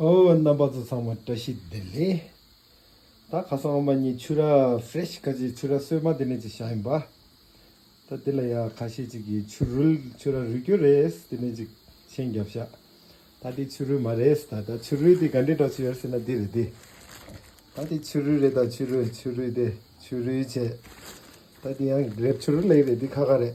ཨོ་རྣམ་པ་ཚོ་ཚང་མ་བཀྲ་ཤིས་བདེ་ལེགས། ད་ཁ་སང་ཨོ་མ་གཉིས་ཆུ་རགས Fresh ཁ་ཆེའི་ཆུ་རགས་སོས་མ་དེ་ནས་ཅིག་བཞག་ཡིན་པ། ད་འདི་ལ་ཡང་ཁ་ཤས་ཅིག་གིས་ཆུ་རུལ་ཆུ་རགས་རུལ་སྐྱོར་རེད་དེ་ནས་ཅིག་མཆན་བརྒྱབ་བཞག་ད་འདི་ཆུ་རུལ་མ་རེད་ད་ད་ཆུ་རུལ་དེ་ག་འདྲའི་གྲགས་ཆུ་ཡོད་ཟེར་ན་འདི་རེད་དེ། ད་འདི་ཆུ་རུལ་རེད་ད་ཆུ་རུལ་ཆུ་རུལ་དེ་ཆུ་རུལ་བྱས། ད་འདི་ཡང་རེད་ཆུ་རུལ་ལེགས་རེད་འདི་ཁ་ཁ་རེད།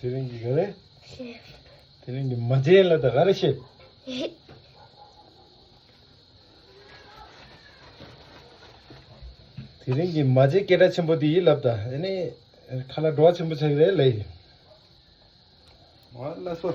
དེ་རིང་གི་ག་རེ། དེ་རིང་གི་མ་བྱས་ལ་དང་ག་རེ་བྱེད། དེ་རིང་གི་མ་བྱས་སྐད་སྒྲ་ཆེན་པོ་དེ་ཡིད་ལབ་ད་ཨེ་ནི་ཁ་ལ་འགྲོ་བ་ཆེན་པོ་ཆགས་ཀྱི་རེད་ལེ། མ་ལ་སོ།